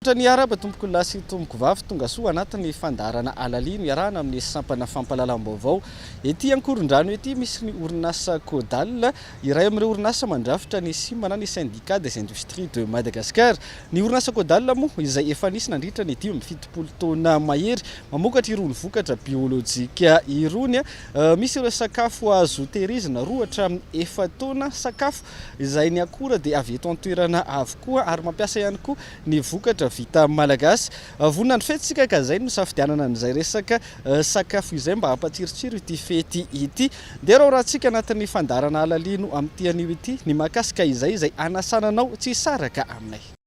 Misaotra ny Arab tompokolahy sy tompokovavy tongasoa anatiny fandaharana halalino iarahana amin'ny sampana fampalalam-baovao ety Ankorondrano ety misy ny orinasa Codal iray amin'ireo orinasa mandrafitra ny Sima na ny Syndicat des Industries de Madagascar ny orinasa Codal moa izay efa nisy nandritra ny dimy amby fitopolo taona mahery mamokatra irony vokatra biolojika irony misy ireo sakafo azo tehirizina roa hatramin'ny efa-taona sakafo izay ny akora dia avy eto an-toerana avokoa ary mampiasa ihany koa ny vokatra vita malagasy. Vonona ny fety isika ka izay no nisafidianana an'izay resaka sakafo izay mba hampatsirotsiro ity fety ity. Dia rahorahantsika anatin'ny fandaharana Alalino amin'ity anio ity ny mahakasika izay izay hanasana anao tsy hisaraka aminay.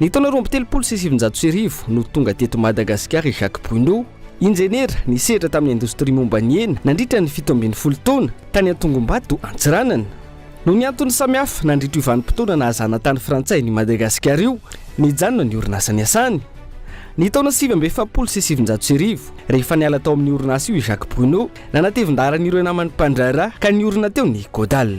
Ny taona roa amby telopolo sy sivinjato sy arivo no tonga teto Madagasikara i Jacques Bruno, injeniera nisehatra tamin'ny indostria momba ny hena nandritra ny fito ambin'ny folo taona, tany Antongombato, Antsiranana. Noho ny antony samihafa nandritra io vanim-potoana nahazana tany frantsay an'i Madagasikara io, nijanona ny orinasa niasany. Ny taona sivy amby efapolo sy sivinjato sy arivo, rehefa niala tao amin'io orinasa io i Jacques Bruno, nanatevin-daharan'ireo namany mpandraharaha ka niorina teo ny Godal.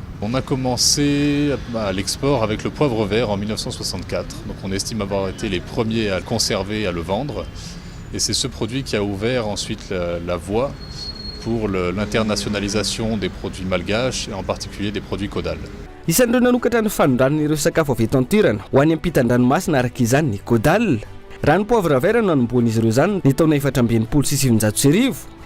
On a commencé à l'export avec le poivre vert en 1964, donc on estime avoir été les premiers à le conserver et à le vendre, et c'est ce produit qui a ouvert ensuite la voie pour l'internationalisation des produits malgaches et en particulier des produits Caudal. Isan'ireo nanokatra ny fanondranana ireo sakafo avy eto an-toerana ho any ampitan-dranomasina araka izany ny Caudal. Raha ny poivre vert no nanombohan'izy ireo izany ny taona efatra amby enimpolo sy sivinjato sy arivo,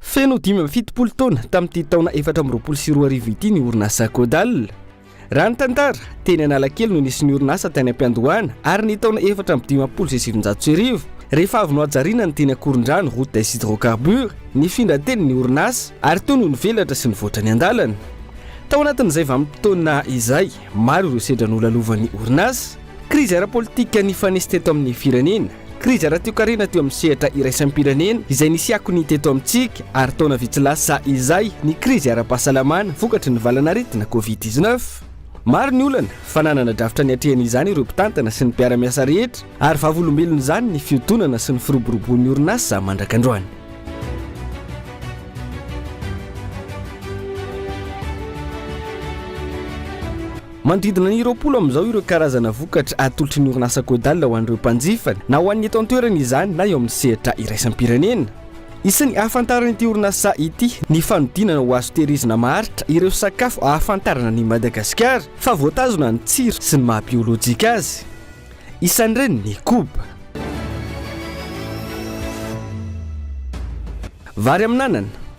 Feno dimy amby fitopolo taona tamin'ity taona efatra amby roapolo sy roa arivo ity ny orinasa Codal. Raha ny tantara, teny Analakely no nisy ny orinasa tany am-piandohana ary ny taona efatra amby dimampolo sy sivinjato sy arivo, rehefa avy nohajariana ny teny Ankorondrano route des hydrocarbures, nifindra teny ny orinasa ary teo no nivelatra sy nivoatra ny andalana. Tao anatin'izay vanim-potoana izay, maro ireo sedra nolalovan'ny orinasa. Krizy ara-politika nifanesy teto amin'ny firenena. Krizy ara-toekarena teo amin'ny sehatra iraisam-pirenena izay nisy akony teto amintsika ary taona vitsy lasa izay ny krizy ara-pahasalamana vokatry ny valan'aretina covid dix neuf. Maro ny olana fa nanana drafitra niatrehana izany ireo mpitantana sy ny mpiara-miasa rehetra ary vavolombelon'izany ny fihodonana sy ny firoboroboan'ny orinasa mandrak'androany. Manodidina ny roapolo amin'izao ireo karazana vokatra atolotry ny orinasa Codal ho an'ireo mpanjifa, na ho an'ny eto an-toerana izany na eo amin'ny sehatra iraisam-pirenena. Isan'ny ahafantaran'ity orinasa ity ny fanodinana ho azo tehirizina maharitra ireo sakafo ahafantarana an'i Madagasikara fa voatazona ny tsiro sy ny maha biolojika azy. Isan'ireny ny koba. Vary amin'anana.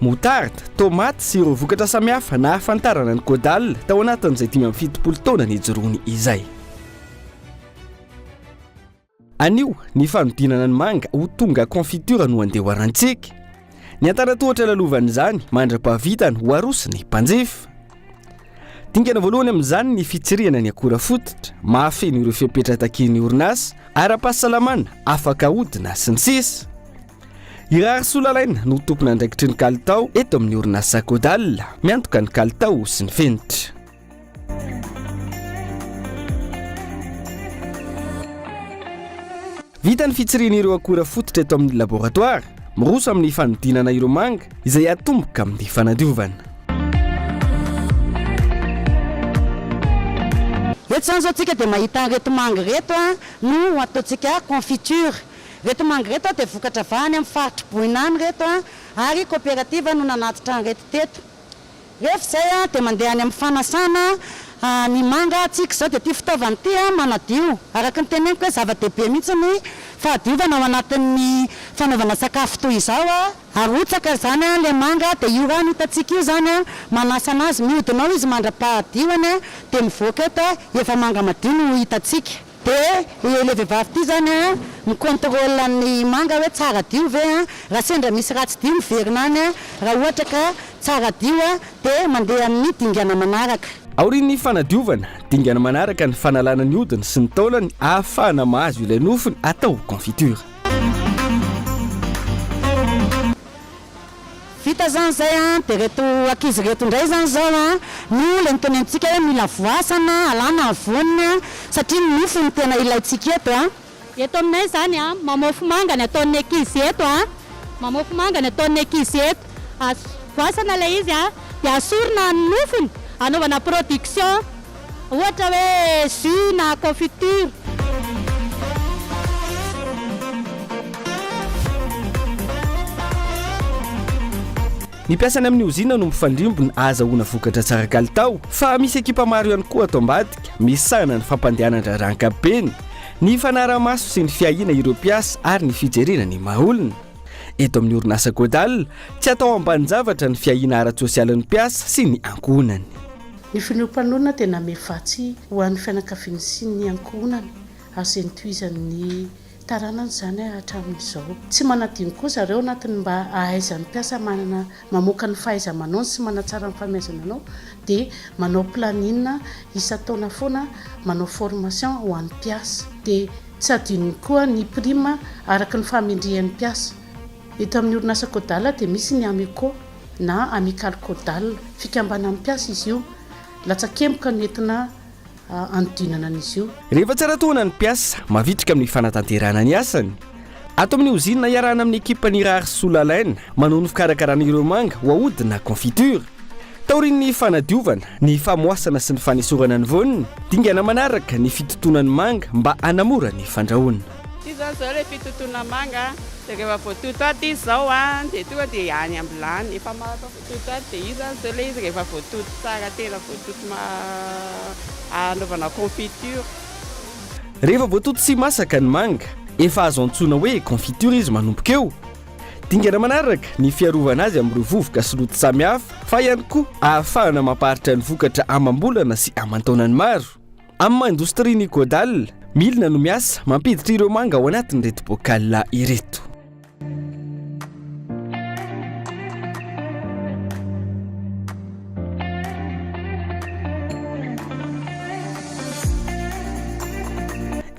moutarde, tomaty sy ireo vokatra samihafa nahafantarana ny Caudal tao anatin'izay dimy amby fitopolo taona nijoroany izay. Anio, ny fanodinana ny manga ho tonga confiture no andehoarantsika. Ny antanan-tohatra lalovan'izany, mandra-pahavitany ho aroson'ny mpanjifa. Dingana voalohany amin'izany ny fitsirihana ny akora fototra, mahafeno ireo fepetra takian'ny orinasa, ara-pahasalamana, afaka ahodina, sy ny sisa. I Raharisolalaina no tompon'andraikitry ny kalitao eto amin'ny orinasa Codal, miantoka ny kalitao sy ny fenitra. Vita ny fitsiriana ireo akora fototra eto amin'ny laboratoara, miroso amin'ny fanodinana ireo manga izay atomboka amin'ny fanadiovana. Eto izany izao tsika dia mahita ireto manga ireto no ataontsika confiture. Ireto manga ireto dia vokatra vaha any amin'ny faritr'i Boina any ireto ary koperativa no nanatitra an'ireto teto. Rehefa izay dia mandeha any amin'ny fanasana ny manga tsika. Izao dia ity fitaovana ity manadio. Araka ny teneniko hoe zava-dehibe mihitsy ny fahadiovana ao anatin'ny fanaovana sakafo toy izao. Arotsaka izany ilay manga dia io rano hitantsika io izany manasa anazy. Mihodina ao izy mandra-pahadioany dia mivoaka eto efa manga madio no hitantsika. Dia io le vehivavy ity zany a mi contrôle an'i manga hoe tsara dio ve a, raha sendra misy ratsy dio miverina any a, raha ohatra ka tsara dio a dia mandeha amin'ny dingana manaraka. Aorian'ny fanadiovana, dingana manaraka ny fanalana ny hodiny sy ny taolany ahafahana mahazo ilay nofony atao confiture. Vita zany zay an, de reto ankizy reto ndray zany zao an no lentolentsika hoe mila voasana alana ny voniny an, satria ny nofo no tena ilaintsika eto an. Eto aminay zany an, mamofo manga ny ataon'ny ankizy eto an, mamofo manga ny ataon'ny ankizy eto, voasana ilay izy an, de asorina ny nofony anaovana production. ohatra hoe jus na confiture. Ny mpiasa any amin'ny ozinina no mifandrimbona ahazahoana vokatra tsara kalitao, fa misy ekipa maro ihany koa ato ambadika misahana ny fampandehanan-draharaha ankapobeny, ny fanarahamaso sy ny fiahiana ireo mpiasa ary ny fijerena ny maha olona. Eto amin'ny orinasa Godal, tsy atao ambanin-javatra ny fiahiana ara-tsosialin'ny mpiasa sy ny ankohonany. Ny filoham-panoloana dia namehy vatsy ho an'ny fianakaviany sy ny ankohonany, azo entohizan'ny taranany izany hatramin'izao. Tsy manadino koa zareo anatin'ny mba ahaizan'ny mpiasa manana mamoaka ny fahaiza-manaony sy manatsara ny famiazana anao dia manao planning isan-taona foana manao formation ho an'ny mpiasa. Dia tsy adinony koa ny prime araka ny fahamendrehan'ny mpiasa. Eto amin'ny orinasa Codal dia misy ny Ameco na Amicale Codal, fikambanan'ny mpiasa izy io. Latsakemboka no entina hanodinana an'izy io. Rehefa tsara tohana ny mpiasa, mavitrika amin'ny fanatanterahana ny asany. Ato amin'ny ozinina iarahana amin'ny ekipan'ny Rary Soa Lalaina manao ny fikarakarana ireo manga ho aody na confiture. Taorian'ny fanadiovana, ny famoasana sy ny fanesorana ny voany, dingana manaraka ny fitotoana ny manga mba hanamora ny fandrahoana. Ity izao izao ilay fitotoana manga dia rehefa voatoto ato izy izao dia tonga dia any am-bilany. Efa maratra voatoto ato dia io izany izao ilay izy rehefa voatoto tsara tena voatoto hanaovana confiture. Rehefa voatoto sy masaka ny manga, efa azo antsoina hoe confiture izy manomboka eo. Dingana manaraka ny fiarovana azy amin'ireo vovoka sy loto samihafa fa ihany koa ahafahana mampaharitra ny vokatra amam-bolana sy aman-taonany maro. Amin'ny maha indostria ny Godal, milina no miasa mampiditra ireo manga ao anatin'ireto bokala ireto.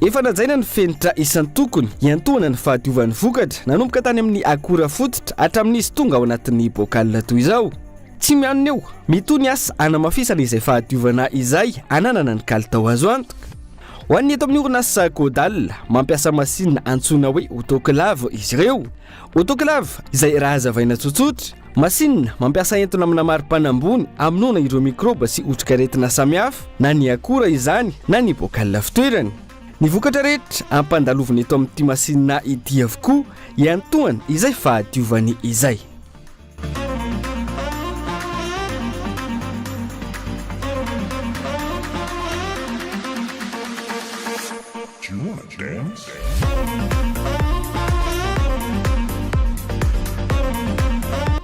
Efa najaina ny fenitra isan-tokony hiantohana ny fahadiovan'ny vokatra nanomboka tany amin'ny akora fototra hatramin'izy tonga ao anatin'ny bokala toy izao. Tsy mianona eo, mitohy ny asa hanamafisana izay fahadiovana izay ananana ny kalitao azo antoka. Ho an'ny eto amin'ny orinasa Caudal, mampiasa masinina antsoina hoe autoclave izy ireo. Autoclave, izay raha hazavaina tsotsotra, masinina mampiasa entona amina maripana ambony hamonoana ireo mikrôba sy otrikaretina samihafa, na ny akora izany na ny bocal fitoerany. Ny vokatra rehetra ampandalovina eto amin'ity masinina ity avokoa, iantohany izay fahadiovany izay.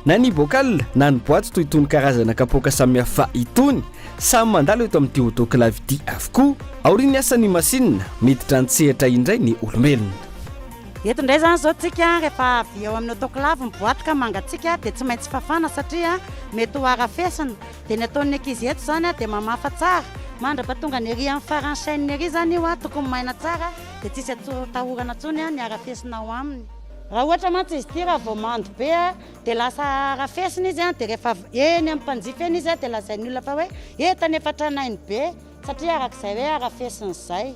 Na ny bocal na ny boaty toy itony karazana kapoaka samihafa itony, samy mandalo eto amin'ity autoclave ity avokoa. Aorian'ny asan'ny masinina, miditra an-tsehatra indray ny olombelona. Eto indray izany izao tsika rehefa avy eo amin'ny autoclave ny boaty ka mangatsiaka dia tsy maintsy fafana satria mety ho harafesina. Dia ny ataon'ny ankizy eto izany dia mamafa tsara mandrapa tonga ny ery amin'ny faran'ny chaîne ery izany io tokony maina tsara dia tsisy atahorana intsony ny harafesina ao aminy. Raha ohatra mantsy izy ity raha vao mando be dia lasa harafesina izy dia rehefa avy eny amin'ny mpanjifa eny izy dia lazain'ny olona fa hoe eto anefa tranainy be satria arak'izay hoe harafesina izay.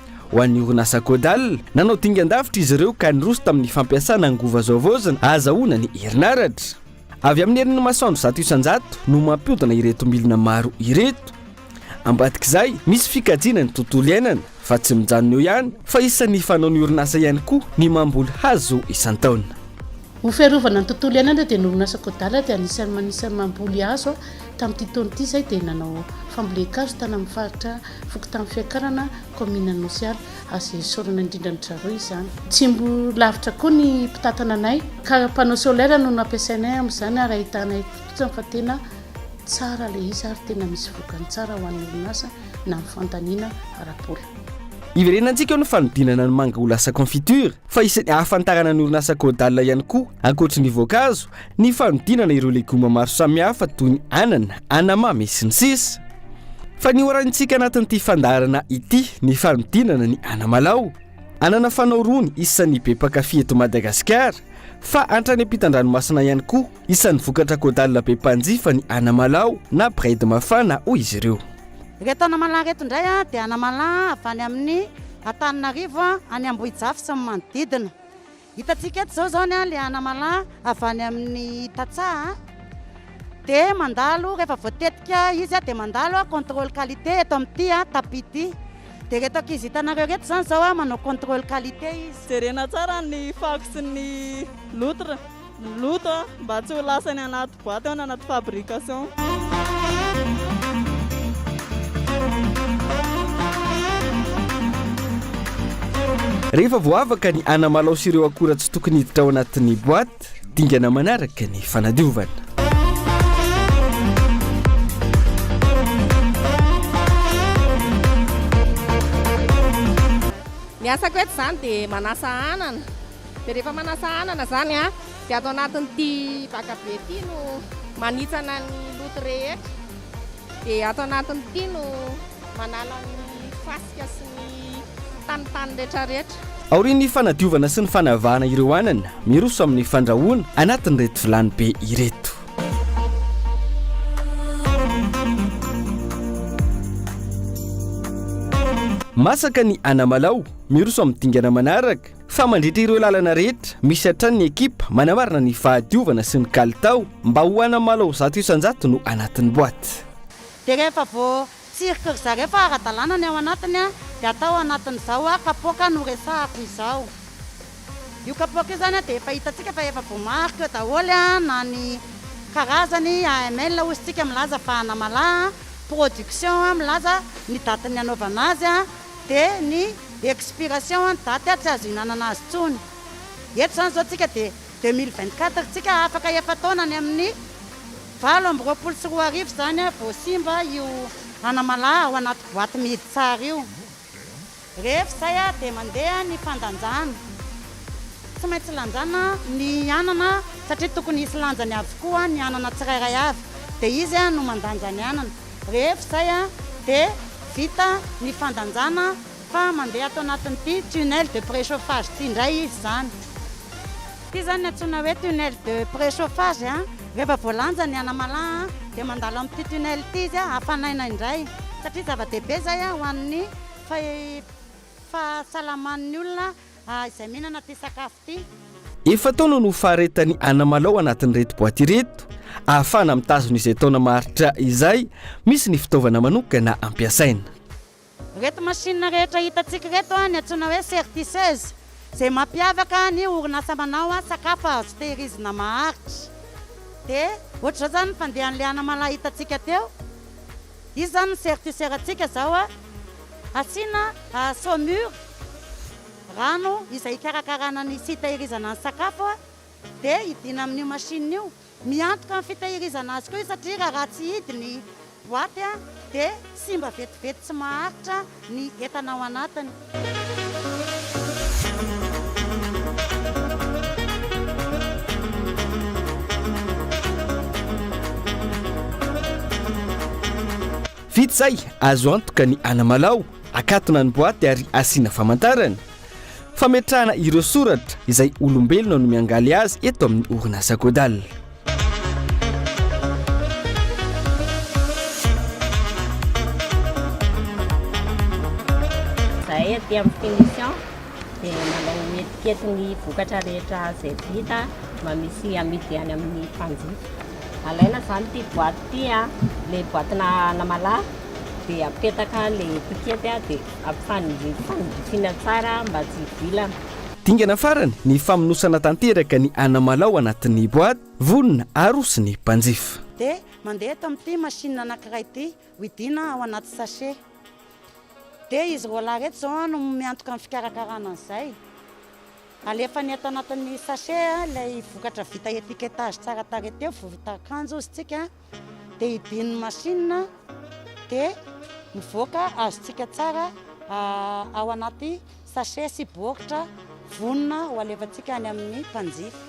Ho an'ny orinasa Codal, nanao dingan-davitra izy ireo ka niroso tamin'ny fampiasana angovo azo havaozina hahazahoana ny herinaratra. Avy amin'ny herin'ny masoandro zato isan-jato no mampiodina ireto milina maro ireto. Ambadik'izay, misy fikajiana ny tontolo iainana, fa tsy mijanona eo ihany fa isan'ny fanaon'ny orinasa ihany koa ny mamboly hazo isan-taona. Ho fiarovana ny tontolo iainana dia norinasa Kodala dia anisan'ny manisany mamboly hazo tamin'ity taona ity izay dia nanao fambolen-kazo tany amin'ny faritra fokontany Fiakarana kaominina Anosy Ala. Azo esorina indrindra ny Draroy izany. Tsy mbola lavitra koa ny mpitantana anay ka panneau solaire no nampiasainay amin'izany ary ahitanay fotsiny fa tena tsara ilay izy ary tena misy vokany tsara ho an'ny orinasa na amin'ny fandaniana ara-bola. Iverenantsika eo ny fanodinana ny manga ho lasa confiture fa isan'ny ahafantarana ny orinasa Caudal ihany koa, ankoatry ny voankazo, ny fanodinana ireo legioma maro samihafa toy ny anana, anamamy, sy ny sisa Fa nihoraintsika anatin'ity fandaharana ity ny fanodinana ny anamalaho, anana fanao rony isan'ny be mpankafy eto Madagasikara, fa hatrany am-pitandranomasina ihany koa. Isan'ny vokatra caudale be mpanjifa ny anamalaho na braid mafana hoy izy ireo. Ireto anamalaho ireto indray dia anamalaho avy any amin'ny Antananarivo, any Ambohijafy sy ny manodidina. Hitantsika eto izao izany ilay anamalaho avy any amin'ny tantsaha dia mandalo rehefa voatetika izy dia mandalo contrôle qualité eto amin'ity tapis ity. Dia ireto ankizy hitanareo ireto izany izao manao contrôle qualité izy. Jerena tsara ny fako sy ny loutre. ny loto mba tsy ho lasa any anaty boite ao na anaty fabrication. Rehefa voavaka ny anamalao sy ireo akora tsy tokony hiditra ao anatin'ny boite, dingana manaraka ny fanadiovana. Ny asako eto izany dia manasa anana, Dia rehefa manasa anana izany an, dia ato anatin'ity vakabe ity no manitsana ny loto rehetra. Dia ato anatin'ity no manala ny fasika sy ny tanintany rehetrarehetra. Aorian'ny fanadiovana sy ny fanavahana ireo anana, miroso amin'ny fandrahoana anatin'ireto vilany be ireto. Masaka ny anamalaho, miroso amin'ny dingana manaraka. fa mandritra ireo lalana rehetra misy hatrany ny ekipa manamarina ny fahadiovana sy ny kalitao mba ho hanamalaho zato isan-jato no anatin'ny boaty. Dia rehefa voatsiriky ry zareo fa ara-dalàna ny ao anatiny dia atao anatin'izao kapoaka noresahako izao. Io kapoaka io izany dia efa hitantsika fa efa voamarika eo daholo na ny karazany, AML hozy tsika milaza fa anamalaha, production milaza ny datin'ny hanaovana azy, dia ny expiration date ary tsy azo ihinanana azy intsony. Eto izany izao tsika dia deux mille vingt quatre tsika afaka efa taona any amin'ny valo amby roapolo sy roa arivo izany vao simba io anamalaho ao anaty boite mihidy tsara io. Rehefa izay dia mandeha ny fandanjana. Tsy maintsy lanjana ny anana satria tokony hisy lanjany avokoa ny anana tsirairay avy dia izy no mandanja ny anana. Rehefa izay dia vita ny fandanjana fa mandeha ato anatin'ity tunnel de préchauffage ity indray izy izany. Ity izany no antsoina hoe tunnel de préchauffage. Rehefa voalanja ny anamala dia mandalo amin'ity tunnel ity izy hafanaina indray satria zava-dehibe izay ho an'ny fahasalaman'ny olona izay mihinana ity sakafo. Efa-taona no faharetan'i Anamalaho anatin'ireto boaty ireto, ahafahana mitazona izay taona maharitra izay, misy ny fitaovana manokana ampiasaina. Ireto masinina rehetra hitantsika ireto no antsoina hoe certiseuse, izay mampiavaka ny orinasa manao sakafo azo tehirizina maharitra. Dia ohatr'izao izany ny fandehan'ilay Anamalaho hitantsika teo, izy izany ny certiseur-ntsika izao, asiana saumure. Rano izay hikarakarana ny sy hitahirizana ny sakafo dia hidiana amin'io machine io. Miantoka ny fitahirizana azy koa io satria raha ratsy hidy ny boaty dia simba vetivety tsy maharitra ny entana ao anatiny. Vita izay, azo antoka ny anamalaho Akatona ny boaty ary asiana famantarana fametrahana ireo soratra izay olombelona no miangaly azy eto amin'ny orinasa Godal. Izahay aty amin'ny Finition dia manao etikety ny vokatra rehetra izay vita mba misy amidy any amin'ny mpanjifa. Alaina izany ity boaty ity, ilay boaty-na anamalaho. dia apetaka le tiketti a dia ampifanindriako fanindrifiana tsara mba tsy hivilana. Dingana farany ny famonosana tanteraka ny anamalaho anatin'ny boaty, vonona, arosy ny mpanjifa. Dia mandeha eto amin'ity machine anankiray ity, widiana ao anaty sachet. Dia izy roalahy ireto izao no miantoka ny fikarakarana an'izay. Alefany eto anatin'ny sachet ilay vokatra vita étiquetage tsara tarehy teo, voritan-kanjo hozy tsika. dia ibin'ny masinina dia mivoaka azontsika tsara ao anaty sachet sy baoritra vonona ho alefantsika any amin'ny mpanjifa.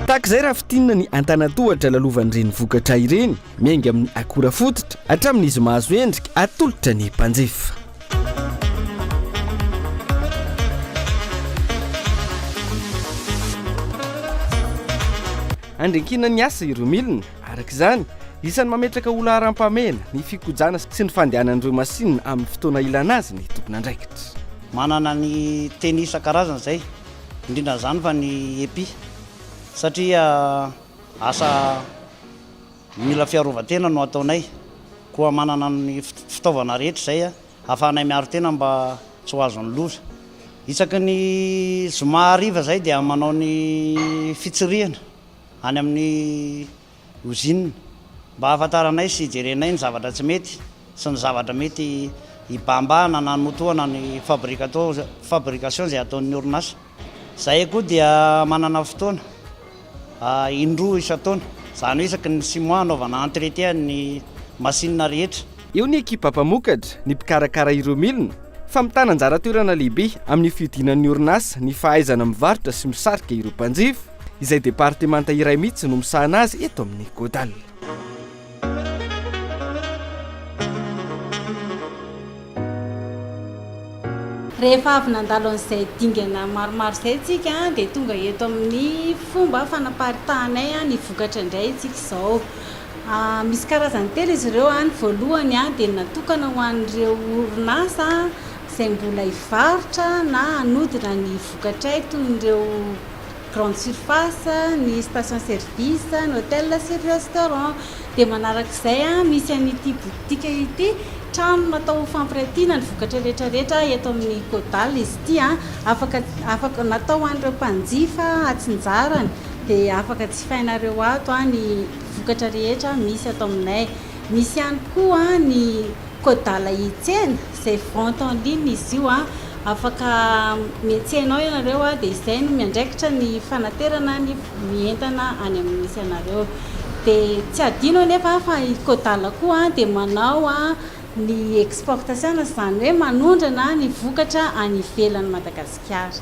Tahaka izay raha fintinina ny antanantohatra lalovan'ireny vokatra ireny, miainga amin'ny akora fototra hatramin'izy mahazo endrika atolotra ny mpanjifa. Andriankina ny asa ireo milina, araka izany, isan'ny mametraka ho laharam-pahamehana ny fikojana sy ny fandehanan'ireo masinina amin'ny fotoana ilana azy ny tompon'andraikitra. Manana ny teny isan-karazany izay indrindra izany fa ny epi satria asa mila fiarovan-tena no ataonay koa manana ny fitaovana rehetra izay ahafahanay miaro tena mba tsy ho azon'ny loza. Isaky ny zoma hariva izay dia manao ny fitsirihana any amin'ny. Ozinina, mba ahafantaranay sy hijerenay ny zavatra tsy mety sy ny zavatra mety hibahambahana na hanotohana ny fabrication izay ataon'ny orinasa. Izahay koa dia manana fotoana indroa isan-taona, izany hoe isaky ny six mois hanaovana entretien ny machine rehetra. Eo ny ekipa mpamokatra, ny mpikarakara ireo milina fa mitana anjara toerana lehibe amin'ny fihodinan'ny orinasa ny fahaizana mivarotra sy misarika ireo mpanjifa izay departemanta iray mihitsy no misahana azy eto amin'ny Godal. Rehefa avy nandalo an'izay dingana maromaro izay isika dia tonga eto amin'ny fomba fanaparitanay ny vokatra indray isika izao. Misy karazany telo izy ireo, ny voalohany dia natokana ho an'ireo orinasa izay mbola hivarotra na hanodina ny vokatray toy ireo grande surface, ny station service, ny hôtel sy ny restaurant. Dia manarak'izay misy an'ity boutique ity, trano natao ho fampiratiana ny vokatra rehetra rehetra eto amin'ny Kodal izy ity, afaka natao ho an'ireo mpanjifa atsinjarany. Dia afaka jifainareo ato ny vokatra rehetra misy ato aminay. Misy ihany koa ny Codala Hitsena izay vente en ligne izy io. Afaka mihetsena ao ianareo dia izay no miandraikitra ny fanaterana ny entana any amin'ny misy anareo. Dia tsy hadino anefa fa i Codala koa dia manao ny exportation, izany hoe manondrana ny vokatra any ivelan'i Madagasikara.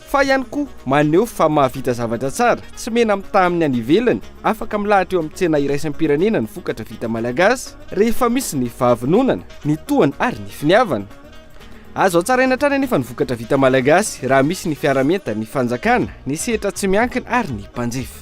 Fa ihany koa maneho fa mahavita zavatra tsara, tsy mena-mitaha amin'ny any ivelany, afaka milahatra eo amin'ny tsena iraisam-pirenena ny vokatra vita malagasy rehefa misy ny fahavononana, ny tohana ary ny finiavana. Azo hatsaraina hatrany anefa ny vokatra vita malagasy raha misy ny fiaraha-mientan'ny fanjakana, ny sehatra tsy miankina ary ny mpanjifa.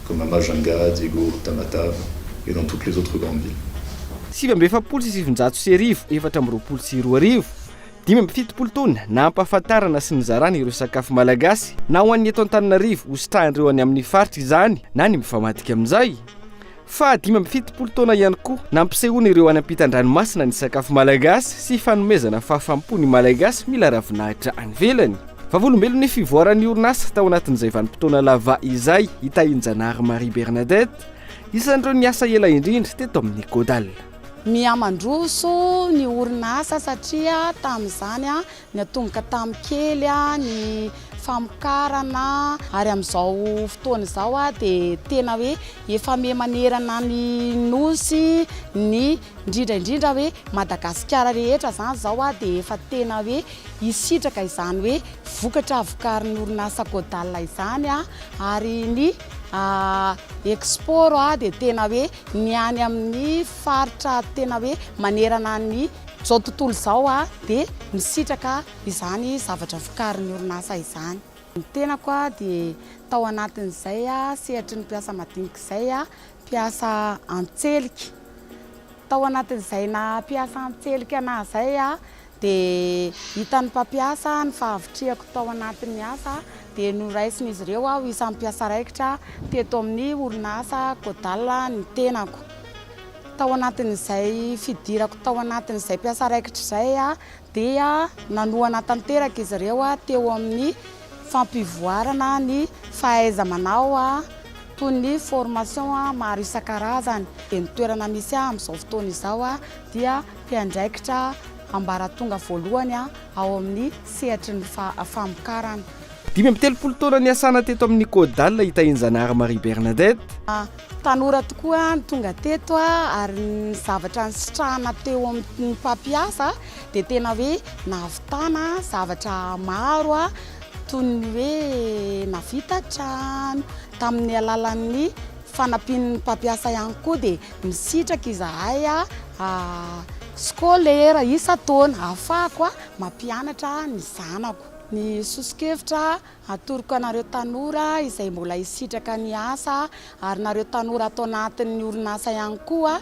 Comme Mama Janga, Diego, Tamatave et dans toutes les autres grandes villes. Sivy amby efapolo sy sivinjato sy arivo, efatra amby roapolo sy roa arivo, dimy amby fitopolo taona, nampahafantarana sy nizarana ireo sakafo malagasy na ho an'ny eto Antananarivo hositrahan'ireo any amin'ny faritra izany na ny mifamadika amin'izay. Faha dimy amby fitopolo taona ihany koa, nampisehoana ireo any am-pitan-dranomasina ny sakafo malagasy sy fanomezana fahafaham-po ny Malagasy mila ravinahitra any ivelany. Vavolombelon' ny fivoaran' ny orinasa tao anatin' izay vanim-potoana lava izay i Tahianjanahary Marie Bernadette, isan' ireo niasa ela indrindra teto amin' ny Godal. Mihamandroso ny orinasa satria tamin' izany niatomboka tamin' kely ny famokarana ary amin' izao fotoana izao dia tena hoe efa miha manerana ny Nosy ny Indrindra indrindra hoe Madagasikara rehetra izany izao dia efa tena hoe hisitraka izany hoe vokatra vokarin'ny orinasa Codal izany ary ny export dia tena hoe ny any amin'ny faritra tena hoe manerana ny izao tontolo izao dia misitraka izany zavatra vokarin'ny orinasa izany. Ny tenako dia tao anatin'izay sehatry ny mpiasa madinika izay mpiasa an-tselika. Tao anatin'izay naha mpiasa an-tselika anahy izay aho dia hitan'ny mpampiasa ny fahavitrihako tao anatin'ny asa dia noraisin'izy ireo aho isan'ny mpiasa raikitra teto amin'ny orinasa Codal ny tenako. Tao anatin'izay fidirako tao anatin'izay mpiasa raikitra izay aho dia nanohana tanteraka izy ireo teo amin'ny fampivoarana ny fahaiza-manao toy ny formation maro isan-karazany. Dia ny toerana misy ahy amin'izao fotoana izao dia mpiandraikitra ambaratonga voalohany ao amin'ny sehatry ny famokarana. Dimy amby telopolo taona niasana teto amin'ny Codal i Tahianjanahary Marie Bernadette. Tanora tokoa no tonga teto ary ny zavatra nisitrahana teo amin'ny mpampiasa dia tena hoe nahavitana zavatra maro toy ny hoe navita trano tamin'ny alalan'ny fanampian'ny mpampiasa ihany koa dia misitraka izahay scolaire isan-taona ahafahako mampianatra ny zanako. Ny soso-kevitra atoroko anareo tanora izay mbola hisitraka ny asa ary nareo tanora ato anatin'ny orinasa ihany koa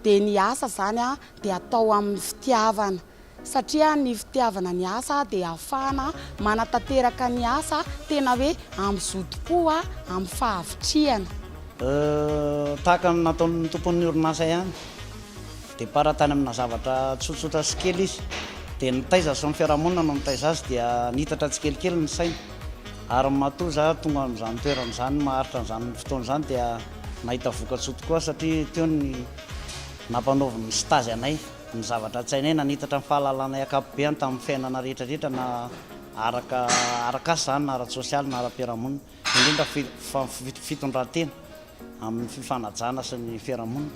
dia ny asa izany dia atao amin'ny fitiavana satria ny fitiavana ny asa dia ahafahana manatanteraka ny asa tena hoe amin'ny zotom-po amin'ny fahavitrihana. Tahaka ny nataon'ny tompon'ny orinasa ihany. Départ tany amina zavatra tsotsotra sy kely izy dia nitaiza sy ny fiarahamonina no nitaiza azy dia niitatra tsikelikely ny sainy ary matoa za tonga amin'izany toerana izany maharitra an'izany fotoana izany dia nahita vokatsoa tokoa satria teo ny nampanaoviny ny stage anay ny zavatra an-tsainay na niitatra ny fahalalanay ankapobeany tamin'ny fiainana rehetra rehetra na araka arak'asa izany na ara-tsosialy na ara-piarahamonina indrindra fa fitondran-tena amin'ny fifanajana sy ny fiarahamonina.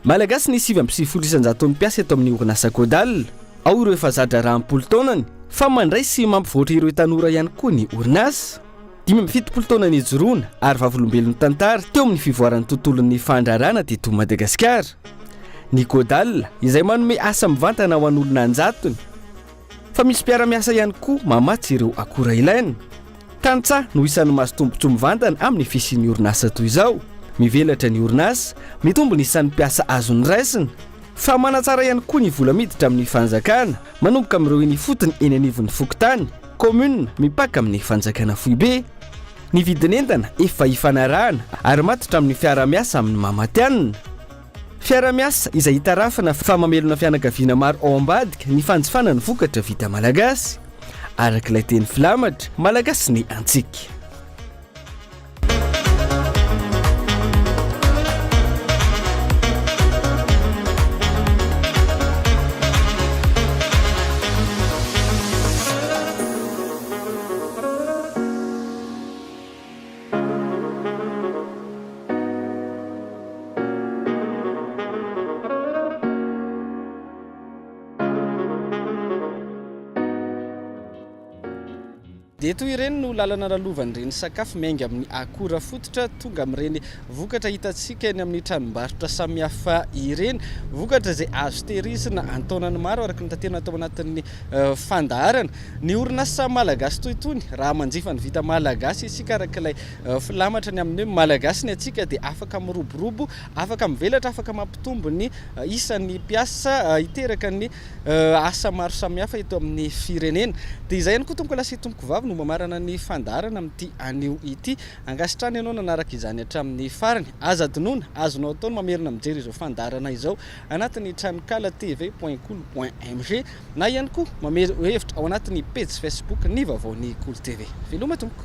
Malagasy ny sivy amby sivifolo isan-jaton'ny mpiasa eto amin'ny orinasa Codal. Ao ireo efa za-draharaha am-polo taonany, fa mandray sy mampivoatra ireo tanora ihany koa ny orinasa. Dimy amby fitopolo taona nijoroana ary vavolombelon'ny tantara teo amin'ny fivoaran'ny tontolon'ny fandraharahana teto Madagasikara ny Codal, izay manome asa mivantana ho an'olona an-jatony. Fa misy mpiara-miasa ihany koa mamatsy ireo akora ilaina. Tantsaha no isan'ny mazotombotsoa mivantana amin'ny fisian'ny orinasa toy izao. Mivelatra ny orinasa, mitombo ny isan'ny mpiasa azony raisina. Fa manatsara ihany koa ny vola miditra amin'ny fanjakana, manomboka amin'ireo eny ifotony eny anivon'ny fokontany, commune, mipaka amin'ny fanjakana foibe. Ny vidin'entana efa ifanarahana ary matotra amin'ny fiaraha-miasa amin'ny maha matihanina. Fiarahamiasa izay itarafana fa mamelona fianakaviana maro ao ambadika ny fanjifana ny vokatra vita malagasy, araka ilay teny filamatra, Malagasy ny antsika. Dia toy ireny no lalana lalovan'ireny sakafo miainga amin'ny akora fototra tonga amin'ireny Vokatra hitantsika eny amin'ny tranombarotra samihafa ireny. Vokatra izay azo tehirizina an-taonany maro araka ny tatehina tao anatin'ny fandaharana. Ny orinasa malagasy toy itony, raha manjifa ny vita malagasy isika araka ilay filamatra ny amin'ny hoe Malagasy ny antsika dia afaka miroborobo, afaka mivelatra, afaka mampitombo ny isan'ny mpiasa, hiteraka ny asa maro samihafa eto amin'ny firenena. Dia izay ihany koa Tompokolahy sy Tompokovavy no mamarana ny fandaharana amin'ity anio ity. Ankasitrahana ianao nanaraka izany hatramin'ny farany. Aza adinoina, azonao atao ny mamerina mijery izao fandaharana izao anatin'ny tranonkala TV point kolo point mg na ihany koa mamery hevitra ao anatin'ny pejy Facebook ny vaovaon'ny Kolo TV. Veloma tompoko!